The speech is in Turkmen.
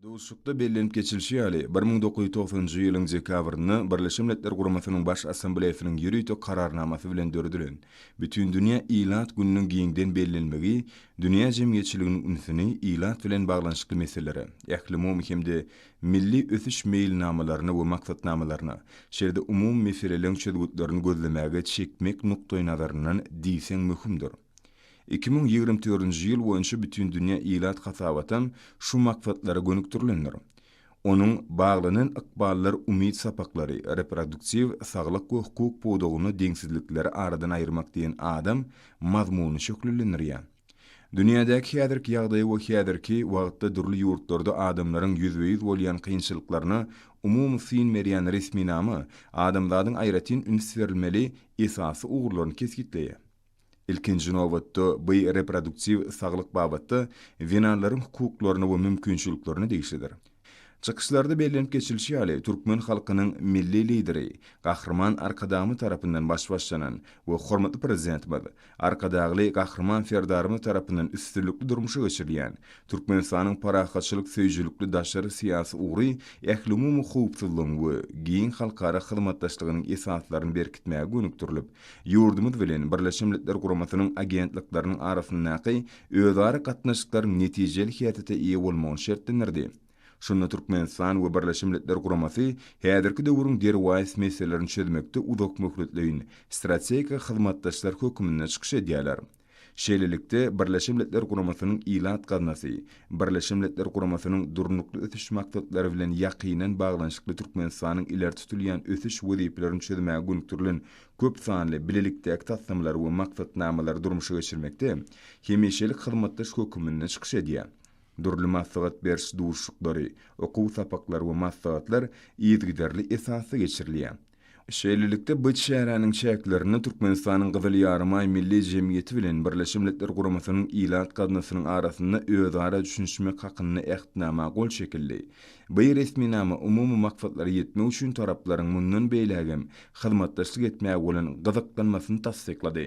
Duşuşykda bellenip geçilişi ýaly, bir müň dokuz ýüz togsanynjy ýylyň dekabrynda Birleşen Milletler Guramasynyň Baş Assambleýasynyň ýörite Kararnamasy bilen döredilen Bütindünýä ilat gününiň giňden bellenmegi dünýä jemgyýetçiliginiň ünsüni ilat bilen baglanyşykly meselelere, ählumumy hem-de milli ösüş meýilnamalaryna we maksatnamalaryna, şeýle-de umumy meseleleň çözgütlerini gözlemäge çekmek nukdaýnazaryndan diýseň möhümdir. Iki müň ýigrimi dördünji ýyl boýunça Bütindünýä ilat hasabatam şu maksatlara gönükdirilendir. Onuň Baglanan ykballar umyt sapaklary, Reproduktiw saglyk we hukuk pudagynda deňsizlikleri aradan aýyrmak diýen adam mazmunyny şöhlelendirýär. Dünýädäki häzirki ýagdaýa we häzirki wagtda dürli ýurtlarda adamlaryň ýüzbe-ýüz bolýan kynçylyklaryna umumy syn berýän resminama adamzadyň aýratyn üns berilmeli esasy ugurlaryny kesgitleýär. Ilkinji nobatda, bu reproduktiw saglyk babatda zenanlaryň hukuklaryna we mümkinçiliklerine degişlidir. Çykyşlarda bellenip geçilişi ýaly, türkmen halkynyň Milli Lideri Gahryman Arkadagymyz tarapyndan baş başlanan we hormatly Prezidentimiz Arkadagly Gahryman Serdarymyz tarapyndan üstünlikli durmuşa geçirilýän Türkmenistanyň parahatçylyk söýüjilikli daşary syýasy ugry ählumumy howpsuzlygyň we giň halkara hyzmatdaşlygynyň esaslaryny berkitmäge gönükdirilip Ýurdumyz bilen Birleşen Milletler Guramasynyň agentlikleriniň arasyndaky özara gatnaşyklaryň netijeli häsiýete eýe bolmagyny şertlendirdi. Şunda Türkmenistan we Birleşen Milletler Guramasy häzirki döwrüň derwaýys meselelerini çözmekde uzakmöhletleýin strategik hyzmatdaşlar hökmünde çykyş edýärler. Şeýlelikde, Birleşen Milletler Guramasynyň Ilat gaznasy, Birleşen Milletler Guramasynyň Durnukly ösüş maksatlary bilen ýakyndan baglanyşykly Türkmenistanyň ileri tutulýan ösüş wezipelerini çözmäge gönükdirilen köp sanly bilelikdäki taslamalary we maksatnamalary durmuşa geçirmekde hemişelik hyzmatdaş höküminde çykyş edýär. Dürli maslahat beriş duşuşyklary, okuw sapaklary we maslahatlar yzygiderli esasda geçirilýär. Şeýlelikde, bu çäräniň çäklerinde Türkmenistanyň Gyzyl Ýarymaý Milli jemgyýeti bilen Birleşen Milletler Guramasynyň Ilat gaznasynyň arasynda özara düşünişmek hakynda Ähtnama gol çekildi. By resminama umumy maksatlara ýetmek üçin taraplaryň mundan beýlägem hyzmatdaşlyk etmäge bolan gyzyklanmasyny tassyklady.